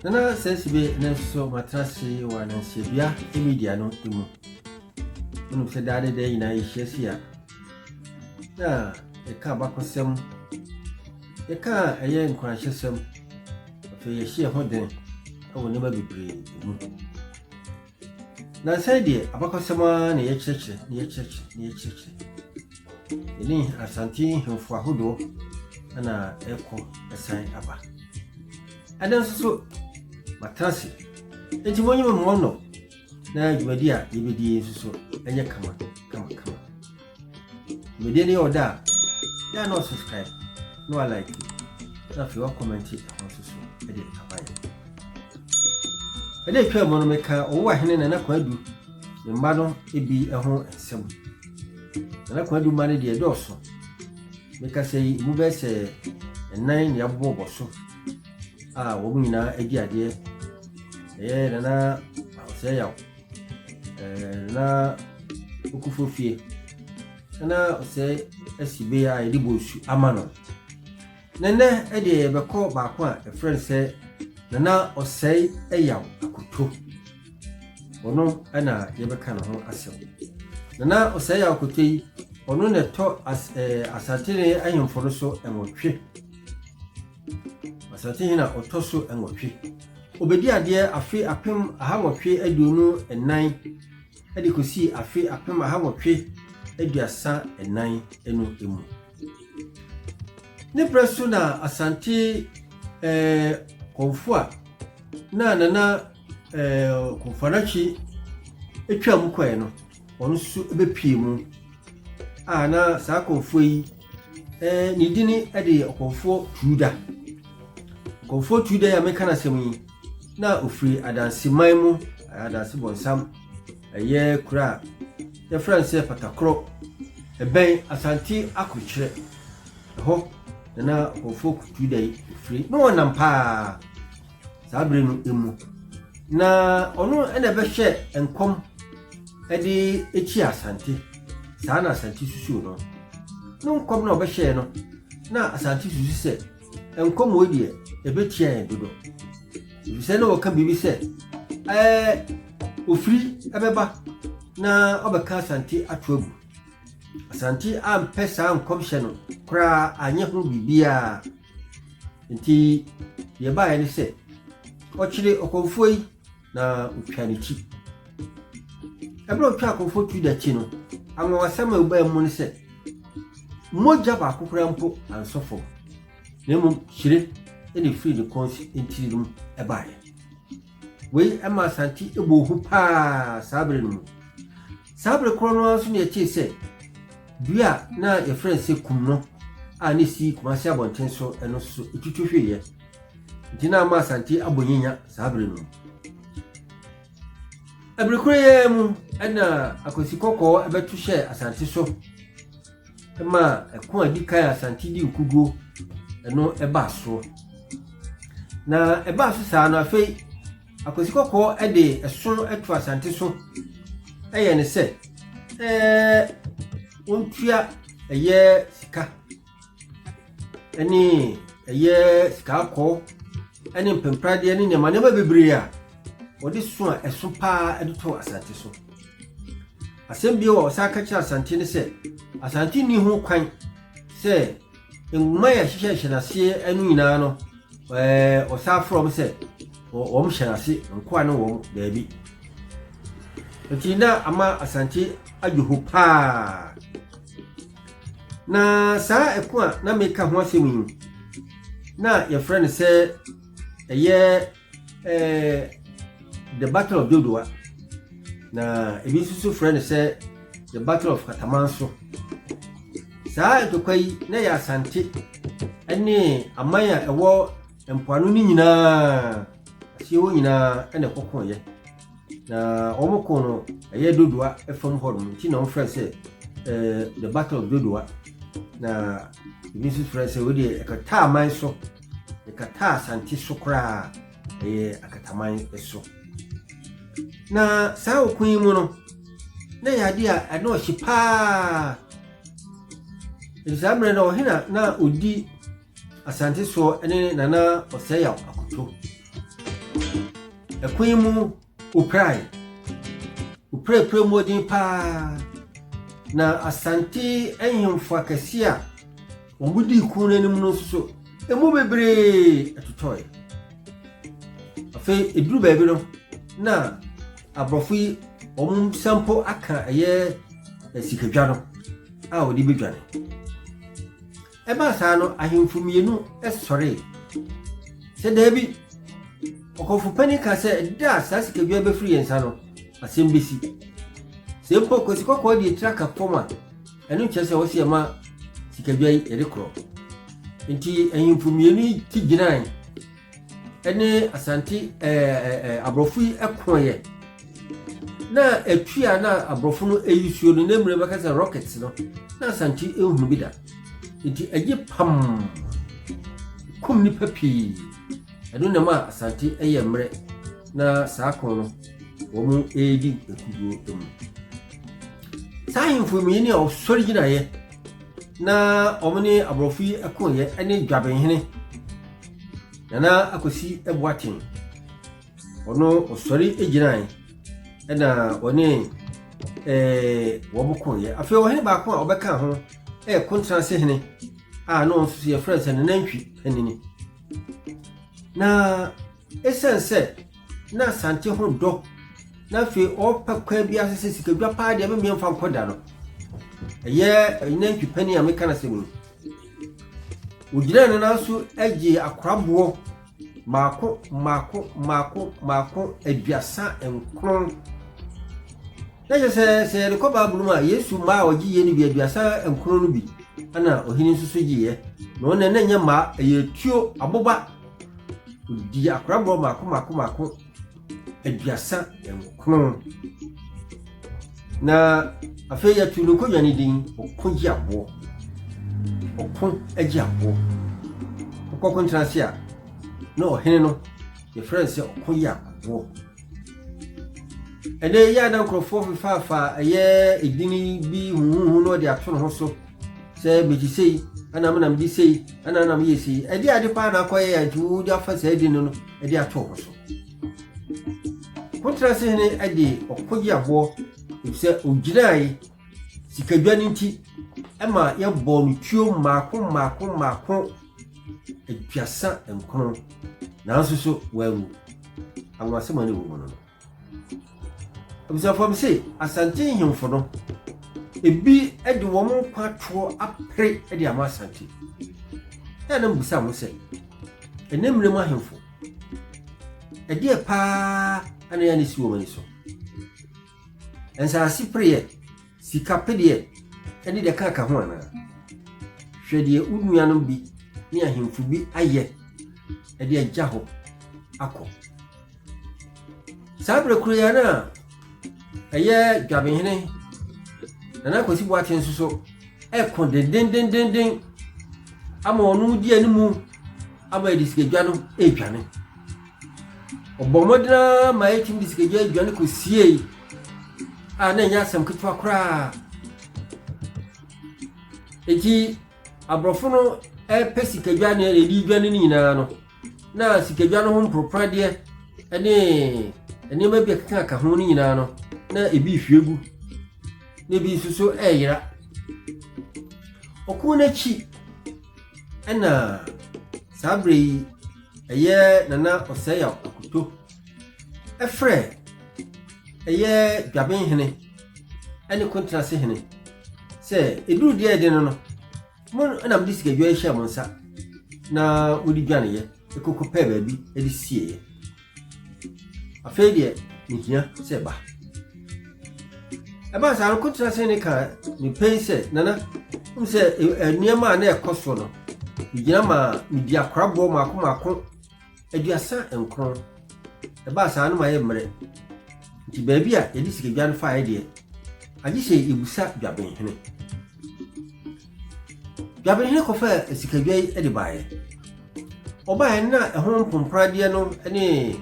nana sɛ sibe ne nso matena se wɔ anansiadua media no mu wonim sɛ daa ne daa nyinaa yɛhyia si a na ɛka abakɔsɛm Yɛka a ɛyɛ nkuranhyɛsɛm. Afei yɛhyɛ yɛn ho den wɔ nneɛma bebree mu. Nansa yi deɛ abakɔsɛm ara na yɛkyerɛkyerɛ na yɛkyerɛkyerɛ na yɛkyerɛkyerɛ. Yɛne Asante nhemfo ahodoɔ na ɛkɔ ɛsan aba. Ɛdɛ nso so matena ase. Enti monyɛ me mmɔnnɔ na dwumadi a yɛbɛdie nso so ɛnyɛ kama kama kama. Video no yɛ ɔda a, yɛ a na subscribe na wa like na afei wa comment ɛho nso so ɛde aba yɛ. Ɛdɛ atwa mu no meka ɔwɔ ahene Nana Kwadu ne mma no ebi ɛho nsɛm. Nana Kwadu mma no deɛ ɛdɔɔso. Meka sɛ yi mu bɛyɛ sɛ ɛnan nea abobɔ bɔ so a wɔn nyinaa adi adeɛ. Ɛyɛ Nana Ɔsɛe Yaw Ɛɛ na okufo fie. Na ɔsɛe asi bee a yɛde bɔ nsu ama no. Na nnɛ ɛdeɛ yɛbɛkɔ baako a ɛfrɛ no sɛ nana ɔsɛe ɛyaw akoto. Ɔno ɛna yɛbɛka ne ho asɛm. Nana ɔsɛe ɛyaw akoto yi ɔno na ɛtɔ as, ɛɛ asantene ahemfo no so ɛwɔtwe. Asantehene a ɔtɔ so nwɔtwe. Ɔbɛdii adeɛ afe apem ahanwɔtwe aduonu nnan de kɔsii afe apem ahanwɔtwe aduasa nnan no mu. Ne berɛ so na Asante eh, Kɔmfoa na Nana eh, Kɔmfoanakyi twaa mu kɔɛ no. wɔn nso bɛpue mu a na saa kɔmfoɔ yi eh, ne dini de yɛ ɔkɔmfoɔ tuuda kɔmfoɔ tuuda yi a meka no asɛm yi na ɔfiri adanseman mu adanse bɔnsam ɛyɛ kura a yɛfrɛ no sɛ patakorɔ ɛbɛn asante akorokyerɛ ɛhɔ na na ɔkɔmfoɔ tuuda yi firi na wɔnam paa saa bere no mu. Na ɔno na ɛbɛhwɛ nkɔm de akyi Asante. Saa na Asante susuw no. No nkɔm na ɔbɛhyɛɛ no na Asante susu sɛ nkɔm wei deɛ ɛbɛtia yɛn dodo. Efisɛ na wɔka biribi sɛ ɛɛ ofiri ɛbɛba na ɔbɛka Asante ato agu. Asante ampɛ saa nkɔmhyɛ no koraa anyɛ ho biribiara. Enti deɛ ɛbaeɛ ne sɛ, ɔkyeree ɔkɔmfoɔ yi na ɔtwaa ne ti. Ɛberɛ a ɔtwaa ɔkɔmfoɔ Tuda ti no, anwanwasɛm a ɛbaa mu ne sɛ, mogya baako koraa mpo ansɔ fam, na mmom hyire na ɛfiri ne kɔn ntini no mu baeɛ. Wei ma Asante bɔɔ hu paa saa bere no mu. Saa bere korɔ no ara nso na yɛtee sɛ dua a na yɛfrɛ no sɛ kum no a ne si Kumase abɔnten so ɛno nso so ɛtutu hweeɛ. Nti na ama Asante abɔ nyanya saa bere no mu. Ɛbere korɔ yɛɛ mu ɛna akwasi kɔkɔɔ ɛbɛto hyɛɛ Asante so. ma ɛko a ɛdi kan a Asante di nkuguo ɛno ɛbaa soɔ na ɛbaa so saa no afei Akwasi Kɔkɔɔ ɛde ɛsono ɛto Asante so ɛyɛ ne sɛ ɛɛ wɔntua ɛyɛ sika ɛne ɛyɛ sika akɔɔ ɛne mpempradeɛ ne nneɛma nneɛma bebree a wɔde so a ɛso paa ɛde to Asante so. Asɛm bio a ɔsan ka kyerɛ Asante ne sɛ, Asante nni ho kwan sɛ nwoma yɛ hyehyɛ hyɛ n'aseɛ no nyinaa no ɛɛ ɔsan forɔ m sɛ wɔn hyɛ n'ase nkoa ne wɔn daabi. Nti na ama Asante adwo ho paa. Na saa ɛko a na meka ho asɛm yi na yɛfrɛ no sɛ ɛyɛ Eh, the battle of dodowa na ebi nso so frɛ no sɛ the battle of katamanso saa ntokwa yi na yɛ asante ne aman a ɛwɔ mpoano no nyinaa aseɛ hɔ nyinaa ɛna ɛkɔkɔɔyɛ na wɔn kɔn no ɛyɛ dodowa fam hɔ nom nti na wɔn frɛ sɛ eh, the battle of dodowa na ebi nso frɛ sɛ wɔde ɛkata aman so Yɛkataa Asante so koraa a, ɛyɛ akataman so. Na saa ɔko yi mu no, na ɛyɛ adeɛ a ɛna ɔhye paa. Ɛti saa mmerɛ no ɔhena na ɔdi Asante soɔ ne Nana Ɔsɛeyaw Akoto. Ɛko yi mu Woprae. Woprapra mu den paa, na Asante ahemfo akɛse a wɔdii kuw no anim no nso, emu bebree totɔe. Afei, eduru baabi no, na aborɔfo yi wɔn nsa mpo aka ɛyɛ eh, sikadwa no a wɔde bedwane. Ɛbaa saa no, ahemfo mmienu sɔree sɛ daabi. Ɔkɔmfo panyin ka sɛ da a saa sikadua bɛfiri yɛn nsa no, asɛm bɛsi. Sɛ mpo kwasi kɔkɔɔ de etira ka fam a, ɛno nkyerɛ sɛ wɔsi ɛma sikadua yi yɛde korɔ. Nti ahemfo mmienu yi ti gyinae ne Asante ɛɛ aborɔfo yi kɔeɛ na atwi a na aborɔfo no ayi suo no na mmerɛ bɛka sɛ rocket no na Asante nhunu bi da nti agye pam kum nipa pii ɛno na ma Asante yɛ mmerɛ na saa kɔn no wɔn redi akuduo mu saa ahemfo mmienu a wɔsɔre gyinaeɛ na wɔn ne aborɔfo yi kɔeɛ ne dwabenhene Nana Akosi Boateng, ɔno ɔsɔre gyinae ɛna ɔne ɛɛ wɔn kɔeɛ. Afei ɔhene baako a ɔbɛka ho ɛyɛ Kontrase hene a na ɔno nso yɛfrɛ no sɛ Nana Ntwi Panini. Na ɛsiane sɛ na Asante ho dɔ na afei ɔpɛ kwan bi ase sɛ sikadwa paa deɛ memmeɛ mfa nkɔ da no. Ɛyɛ Nana Ntwi Panini a meka no asɛm yi. Wogyinaa ne nan so gyee akoraboɔ mmaako mmaako mmaako mmaako aduasa nkron. Na kyerɛ sɛ sɛ yɛde kɔ Bible mu a Yesu mmaa a ɔgyeeɛ no bi aduasa nkron no bi ɛna ɔhene nso so gyeeɛ. Na wɔn na ɛnyɛ mmaa ɛyɛ tuo aboba. Ɔdii akoraboɔ mmaako mmaako mmaako. aduasa nkron na afei yɛtu no kɔdwa no din ɔko gye aboɔ ɔko gye aboɔ ɔkɔ ko ntena ase a na ɔhene no yɛfrɛ no sɛ ɔko yɛ aboɔ ɛnɛ yɛ a na nkurɔfoɔ fefaafa ɛyɛ edini bi huhuhu na ɔde ato ne ho so sɛ megye sei ɛna menam de sei ɛna menam yɛ sei ɛde ade paa na akɔyɛ a nti wode afa saa edini no de ato ɔko so. Kontras hene de ɔko gye aboɔ efisɛ ogyinae sikadwa no nti ɛma yɛbɔɔ no tuo mmaako mmaako mmaako aduasa nkron nanso so wanwu anwasɛm a ne wɔ mu no no Abusuafam se Asante nhemfo no, ebi de wɔn nkwa toɔ apere de ama Asante. Ɛa na mebisa ho sɛ, ɛnɛ mmere mu ahemfo, ɛdeɛ paa na ɛa na ɛsi wɔn ani so? Nsaase pereɛ, Sika pedeɛ de deɛ ɛka ka ho anaa? Hwɛ deɛ wo nuanom bi ne ahemfo bi ayɛ de agya hɔ akɔ. Saa berɛ koro yi a na ɛyɛ dwabenhene Nana Akwasi Boakye nso so ɛkɔ dendendendenden ama ɔno di anim ama ɛde sikadwa no ɛredwane. Ɔbɔɔ mmɔden ara ma yɛtumi de sikagya aduane kosiei a na ɛnyɛ asɛm ketewa koraa. Enti aborɔfo no repɛ sikadwa ne ɛdi dwa no nyinaa no, na sikadwa no ho mporoporoadeɛ ne nneɛma bi a ɛkekaka ho no nyinaa no, na ebi rehwie gu, na ebi nso so reyera. Ɔko no akyi Ɛna saa berɛ yi ɛyɛ nana ɔsɛeyaw akoto ɛfrɛ ɛyɛ dwaben hene ɛne kontrase hene sɛ ɛduru deɛ ɛde no no mo ɛna mode sikadwa yi hyɛ mo nsa na mode dwaneeɛ ɛkɔkɔ pɛɛ baabi ɛde sieeɛ Afei deɛ mehia sɛ ba. Ɛbaa saa no kotena sɛ ne kaa mepɛi sɛ nana m sɛ nneɛma a na ɛkɔ so no megyina maa medi akoraboɔ maako maako aduasa nkron ɛbaa saa no ma yɛ mmerɛ nti baabi a yɛde sikadwa no faeɛ deɛ agye sɛ yɛbusa dwabenhene Dwabenhene kɔfaa asikadwa yi de baeɛ. Ɔbaeɛ no na ɛho mpompradeɛ no ne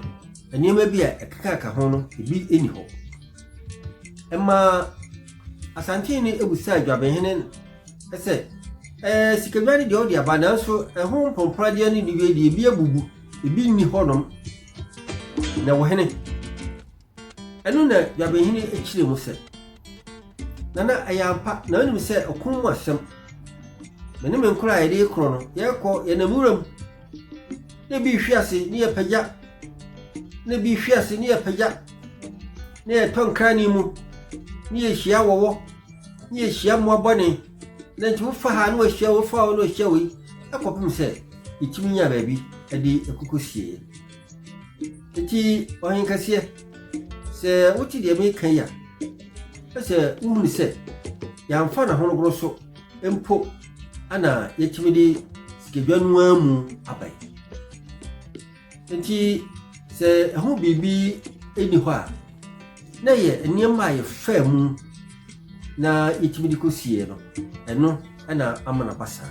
nneɛma bi a ɛkekaka ho no ebi nni hɔ. Ɛmaa Asantehene abusaa Dwabenhene sɛ ɛɛ sikadwa no deɛ ɔde aba nanso ɛho mpompradeɛ no deɛ ebi abubu ebi nni hɔnom na wɔhene Ɛno na Dwabenhene kyerɛɛ mu sɛ, Nana, ɛyɛ ampa na wonim sɛ ɔko mu asɛm. Me ne me nkoro a yɛde korɔ no, yɛkɔ yɛnam wuram na ebi rehwe ase ne yɛpagya na ebi rehwe ase ne yɛpagya na yɛtɔ nkrane mu ne yɛhyia wɔwɔ ne yɛhyia mmoa bɔne na nti wofa ha na wɔahyia wofa hɔ na wɔahyia wei ɛkɔpem sɛ yɛtumi nya baabi de ɛkokɔ sieɛ. Enti ɔhen kɛseɛ, sɛ wote deɛ meka yi a, ɛ sɛ wohunu sɛ yɛamfa n'ahonogoro so mpo ana yɛatumi de sikadwa no ara mu aba yi. Enti sɛ ɛho biribi nni hɔ a, na ɛyɛ nneɛma a yɛfaa mu na yɛtumi de kɔsieɛ no, ɛno na ama no aba saa.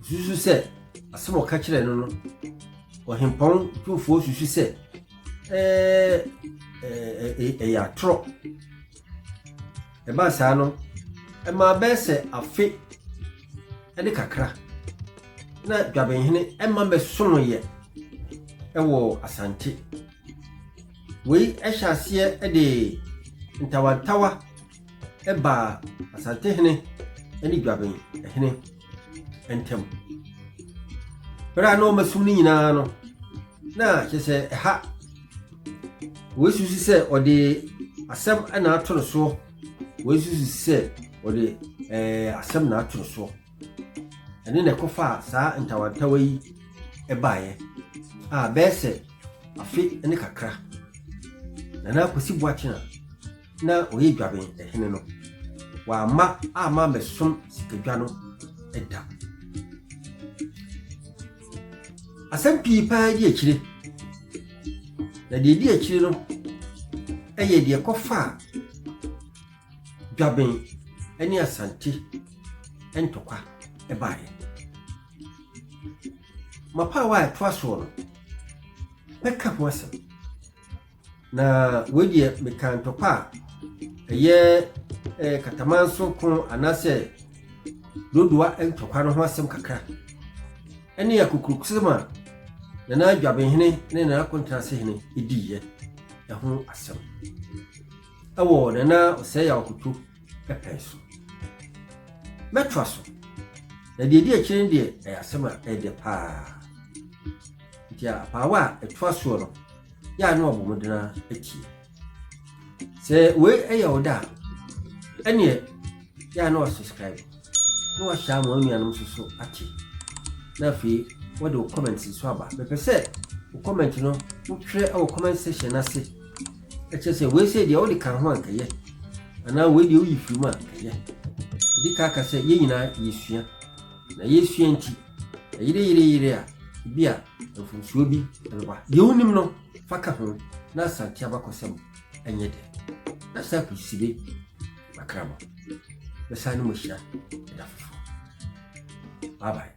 Osusu sɛ asɛm a ɔka kyerɛɛ no no, ɔhempɔn tumfoɔ susu sɛ ɛɛ ɛɛ ɛyɛ atorɔ. Ɛbaa saa no, ɛmaa bɛyɛ sɛ afe ne kakra na Dwabenhene ɛma bɛsonoeɛ ɛwɔ Asante. Wei ɛhyɛ aseɛ de ntawantawa. ɛbaa Asantehene ne Dwaben hene ntam. Bere a na wɔasum no nyinaa no, na kyɛ sɛ ɛha wɔasusu sɛ ɔde asɛm na ato no soɔ, wɔasusu sɛ ɔde ɛɛ asɛm na ato no soɔ. Ɛne na ɛkɔfaa saa ntawantawa yi baeɛ a bɛyɛ sɛ afe ne kakra. Nana Kwesi Boakyena na ɔyɛ dwaben hene no, wamma amma mɛsom sikadwa no da. Asɛm pii paa di akyire, na deɛ di akyire no yɛ deɛ kɔfaa dwaben ne asante ntɔkwa baeɛ. Mapaawa a ɛtoa soɔ no, mɛka ho asɛm. Na wei deɛ meka ntɔkwa a ɛyɛ eh, katamanso ko anaasɛ dodowa ntɔkwa no ho asɛm kakra ɛne akokurokosɛm a nana adwabenhene ne nana akontrase hene diiɛ ɛho asɛm ɛwɔ nana ɔsɛe akoto pɛpɛn so mɛtoa so na deɛ ɛdi akyire no deɛ ɛyɛ asɛm a ɛyɛ dɛ paa nti apaawa a ɛtoa soɔ no yɛ a na wɔbɔ mmɔden ara atie. Sɛ wei yɛ wo da a, ɛneɛ yɛ a na wasubscribe na wahyɛ ama wo nuanom nso so ate. Na afei wɔde wo comment nso aba. Mepɛ sɛ wo comment no wotwerɛ wɔ comment section no ase. Ɛkyerɛ sɛ wei sɛ deɛ wode ka ho ankɛyɛ anaa wei deɛ woyi firi mu a ɛyɛ. Ɛdi ka ka sɛ yɛn nyinaa yɛsua na yɛsua nti Ɛyere yere yere a, ebi a mfomsoɔ bi ɛbɛba. Deɛ wonim no fa ka ho na asante abakɔsɛm ɛnyɛ dɛ. Na saa kusibe makra mo. Bɛsan ne mo ahyia ɛda foforɔ. Bye bye.